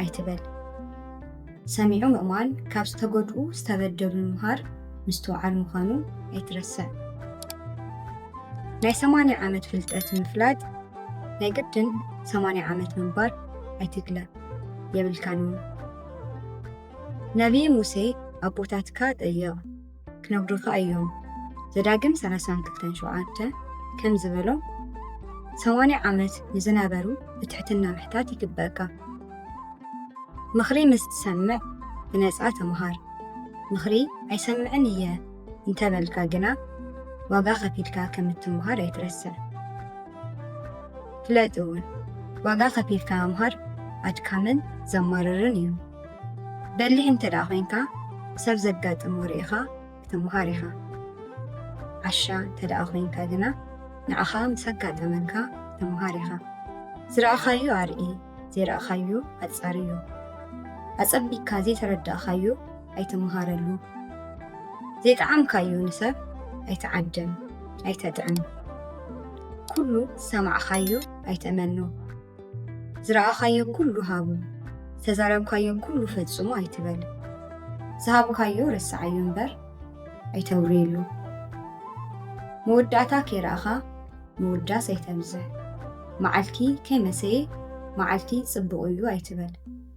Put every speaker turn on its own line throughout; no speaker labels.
ኣይትበል። ሰሚዑ ምእማን ካብ ዝተጎድኡ ዝተበደሉ ምሃር ምስትውዓል ምዃኑ ኣይትረስዕ። ናይ ሰማንያ ዓመት ፍልጠት ምፍላጥ ናይ ግድን ሰማንያ ዓመት ምንባር ኣይትግለ የብልካን። ነቢይ ሙሴ ኣቦታትካ ጠየቕ። ክነግዱካ እዮም ዘዳግም 32:7 ከም ዝበሎ ሰማንያ ዓመት ንዝነበሩ ብትሕትና ምሕታት ይግበእካ ምኽሪ ምስ ትሰምዕ ብነፃ ተምሃር ምኽሪ ኣይሰምዕን እየ እንተበልካ ግና ዋጋ ከፊልካ ከም እትምሃር ኣይትረስዕ ፍለጥ እውን ዋጋ ከፊልካ ምምሃር ኣድካምን ዘማርርን እዩ በሊሕ እንተ ደኣ ኮይንካ ሰብ ዘጋጥሞ ርኢኻ ክትመሃር ኢኻ። ዓሻ እንተ ደኣ ኮይንካ ግና ንዓኻ ምስ ኣጋጠመካ ክትመሃር ኢኻ። ዝረኣኻዮ ኣርኢ፣ ዘይረኣኻዮ ኣጻርዮ። ኣጸቢቅካ ዘይተረዳእካዮ ኣይትመሃረሉ። ዘይጠዓምካዮ ንሰብ ኣይትዓድም፣ ኣይተጥዕም። ኩሉ ዝሰማዕካዮ ኣይትእመኖ። ዝረኣኻዮ ኩሉ ሃቡ፣ ዝተዛረብካዮ ኩሉ ፈጽሙ ኣይትበል። ዝሃብካዮ ረስዓዮ እምበር ኣይተውርየሉ። መወዳእታ ከይረኣኻ ምውዳስ ኣይተብዝሕ። መዓልቲ ከይመሰየ መዓልቲ ጽቡቕ እዩ ኣይትበል።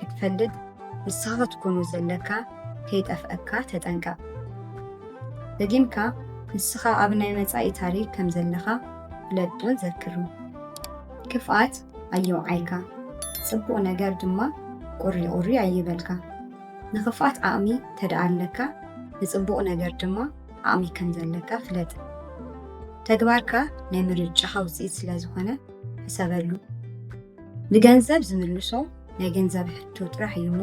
ክትፈልጥ ንስኻ ክትኮኑ ዘለካ ከይጠፍኣካ ተጠንቀቕ። ደጊምካ ንስኻ ኣብ ናይ መጻኢ ታሪኽ ከም ዘለኻ ፍለጥን ዘክርን። ክፍኣት ኣየውዓልካ፣ ጽቡቕ ነገር ድማ ቁሪቑሪ ኣይበልካ። ንኽፍኣት ዓቕሚ እንተድኣ ኣለካ፣ ንጽቡቕ ነገር ድማ ዓቕሚ ከም ዘለካ ፍለጥ። ተግባርካ ናይ ምርጫኻ ውጽኢት ስለ ዝኾነ ሕሰበሉ። ንገንዘብ ዝምልሶ ናይ ገንዘብ ሕቶ ጥራሕ እዩ እሞ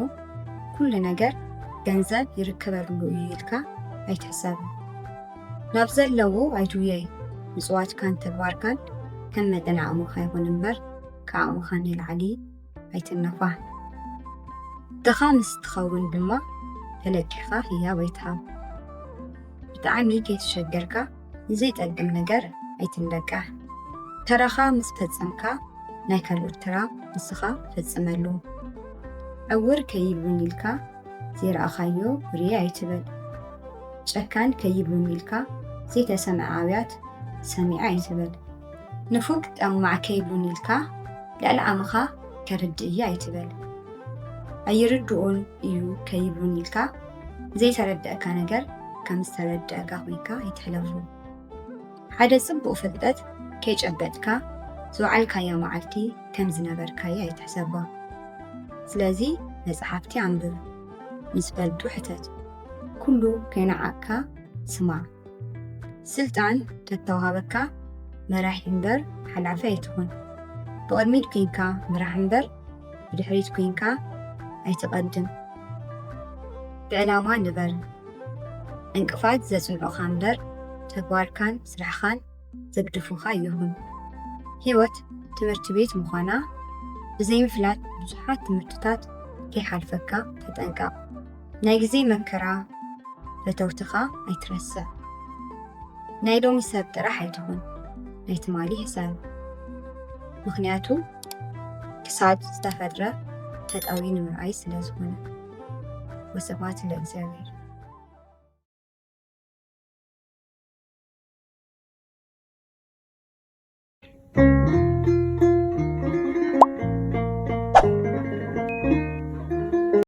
ኩሉ ነገር ገንዘብ ይርከበሉ እዩ ኢልካ ኣይትሕሰብን። ናብ ዘለዎ ኣይትውየይ ምጽዋትካን ተግባርካን ከም መጠን ዓቕምኻ ይኹን እምበር ከዓቕምኻ ንላዕሊ ኣይትነፋሕ። ድኻ ምስ ትኸውን ድማ ተለቂኻ ህያብ ኣይትሃብ። ብጣዕሚ ከይተሸገርካ ንዘይጠቅም ነገር ኣይትንበቃዕ። ተራኻ ምስ ፈጸምካ ናይ ካልኦት ተራ ንስኻ ፈጽመሉ። ዕውር ከይብሉኒ ኢልካ ዘይረኣኻዮ ርእየ ኣይትበል። ጨካን ከይብሉኒ ኢልካ ዘይተሰምዐ ኣብያት ሰሚዐ ኣይትበል። ንፉግ ጠማዕ ከይብሉኒ ኢልካ ልዕሊ ዓቕምኻ ከርድእ እየ ኣይትበል። ኣይርድኡን እዩ ከይብሉኒ ኢልካ ዘይተረድኣካ ነገር ከም ዝተረድኣካ ኮይንካ ኣይትሕለፎ። ሓደ ጽቡቕ ፍልጠት ከይጨበጥካ ዝወዓልካያ መዓልቲ ከም ዝነበርካያ ኣይትሕሰባ። ስለዚ መጽሓፍቲ ኣንብብ፣ ምስ በልጡ ሕተት፣ ኩሉ ከይነዓቕካ ስማዕ። ስልጣን ተተዋህበካ መራሒ እምበር ሓላፊ ኣይትኹን። ብቕድሚት ኮይንካ ምራሕ እምበር ብድሕሪት ኩንካ ኣይትቐድም ብዕላማ ንበር ዕንቅፋት ዘጽንዑኻ እምበር ተግባርካን ስራሕኻን ዘግድፉኻ ይኹን ህይወት ትምህርቲ ቤት ምዃና ብዘይምፍላጥ ብዙሓት ትምህርትታት ከይሓልፈካ ተጠንቀቕ ናይ ግዜ መከራ ፈተውትኻ ኣይትረስዕ ናይ ሎሚ ሰብ ጥራሕ ኣይትኹን ናይ ትማሊ ሕሰብ ምክንያቱ ክሳድ ዝተፈጥረ ተጣዊ ንምርኣይ ስለ ዝኾነ ወሰባት ለእግዚኣብሔር